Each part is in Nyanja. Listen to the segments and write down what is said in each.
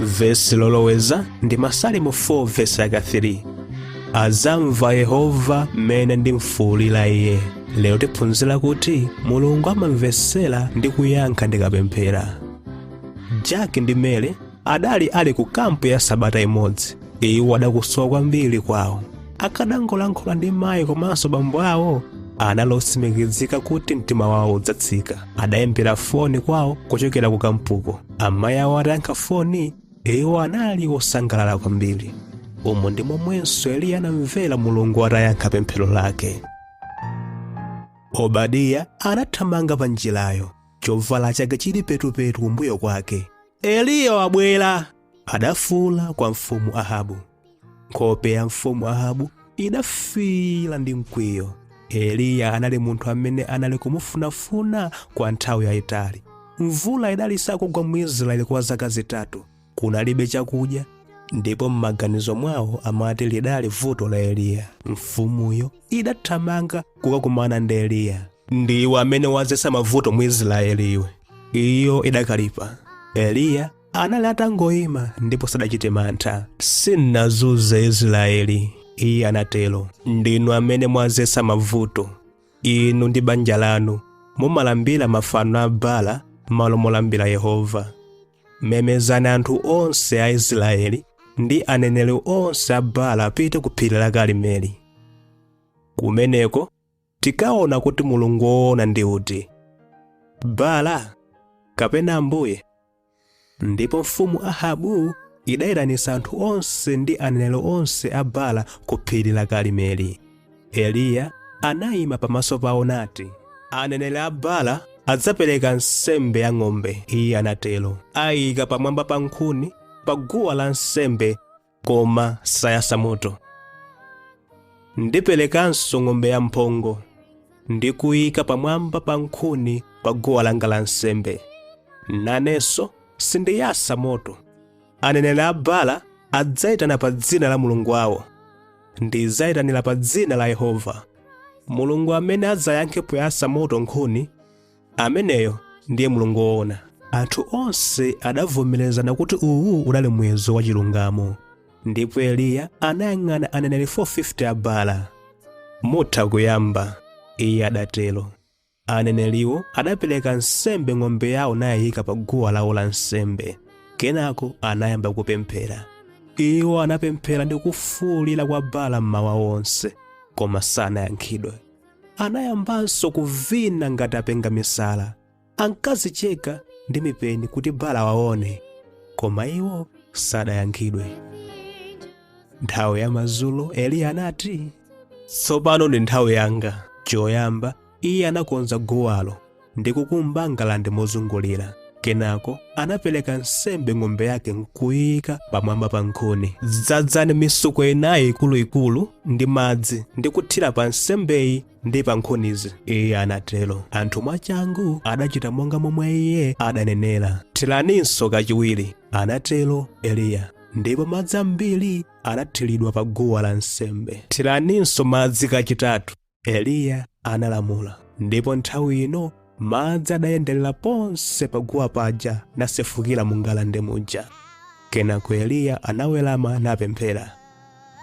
vesi loloweza ndi masalimo 4 vesi yake 3 adzamva yehova mmene ndimfuulira iye lero tiphunzira kuti mulungu amamvetsera ndi kuyankha ndikapemphera jack ndi mary adali ali ku kampu ya sabata imodzi iwo adakusowa kwambiri kwawo akadangolankhula ndi mayi komanso bambo awo anali otsimikizika kuti mtima wawo udzatsika adayimbira foni kwawo kuchokera ku kampuko amayi awo atayankha foni iwo anali osangalala kwambiri umo ndi momwenso eliya anamvera mulungu atayankha pemphero lake obadiya anathamanga pa njirayo chovala chake chili petupetu kumbuyo kwake eliya wabwera adafuula kwa mfumu ahabu nkhope ya mfumu ahabu idafiira ndi mkwiyo eliya anali munthu amene anali kumufunafuna kwa nthawi yayitali mvula idali sakugwa mu israeli kwa zaka zitatu kunalibe chakudya ndipo m'maganizo mwawo amati lidali vuto la eliya mfumuyo idathamanga kukakumana ndi eliya ndiwe amene wadzetsa mavuto mu israeli iwe iyo idakalipa eliya anali atangoima ndipo sadachite mantha sindinazunze israeli iye anatero ndinu amene mwadzetsa mavuto inu ndi banja lanu mumalambira mafano a bala m'malo molambira yehova memezani anthu onse a israeli ndi aneneri onse a bala apite ku phiri la karimeli kumeneko tikaona kuti mulungu woona ndi uti bala kapena ambuye ndipo mfumu ahabu idayitanitsa anthu onse ndi aneneri onse a bala ku phiri la karimeli eliya anayima pamaso pawo nati aneneri a bala adzapereka nsembe ya ng'ombe iye anatero ayika pamwamba pa nkhuni pa guwa la nsembe koma sayatsa moto ndiperekanso ng'ombe yamphongo ndi kuyika pamwamba pa nkhuni pa guwa langa la nsembe nanenso sindiyatsa moto aneneri a bala adzayitana pa dzina la mulungu wawo ndidzayitanira pa dzina la yehova mulungu amene adzayankhe poyatsa moto nkhuni Ameneyo ndiye Mulungu woona. Anthu onse adavomerezana kuti uwu udali muyeso wa chilungamo. Ndipo Eliya anayang'ana aneneri 450 a Baala. Mutha kuyamba, iye adatero. Aneneriwo adapereka nsembe ng'ombe yawo nayiyika pa guwa lawo la nsembe. Kenako anayamba kupemphera. Iwo anapemphera ndi kufuulira kwa Baala mmawa wonse, koma sanayankhidwe. Anayambanso kuvina ngati apenga misala. Ankadzicheka ndi mipeni kuti Baala awaone, koma iwo sadayankhidwe. Nthawi ya madzulo Eliya anati, Tsopano ndi nthawi yanga. Choyamba, iye anakonza guwalo. ndi kukumba ngalande mozungulira kenako anapereka nsembe ng'ombe yake nkuyika pamwamba pa nkhuni dzadzani mitsuko inayi ikuluikulu ndi madzi ndi kuthira pa nsembeyi ndi pa nkhunizi iye anatero anthu mwachangu adachita monga momwe iye adanenera thiraninso kachiwiri anatero eliya ndipo madzi ambiri anathiridwa pa guwa la nsembe thiraninso madzi kachitatu Eliya analamula, ndipo nthawi ino madzi adayenderera ponse paguwa paja nasefukira mu ngalande muja. Kenako Eliya anawerama napemphera,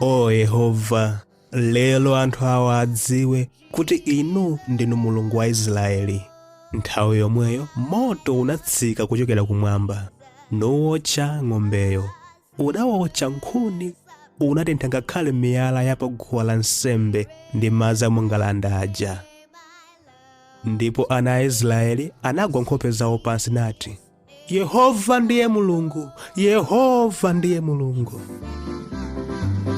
O Yehova, lero anthu awa adziwe kuti inu ndinu Mulungu wa Israeli. Nthawi yomweyo moto unatsika kuchokera kumwamba nuwotcha ng'ombeyo. Udaotcha nkhuni, unatentha ngakhale miyala ya pa guwa la nsembe ndi madzi a mu ngalande aja. Ndipo ana a Israeli anagwa nkhope zawo pansi nati, Yehova ndiye Mulungu, Yehova ndiye Mulungu.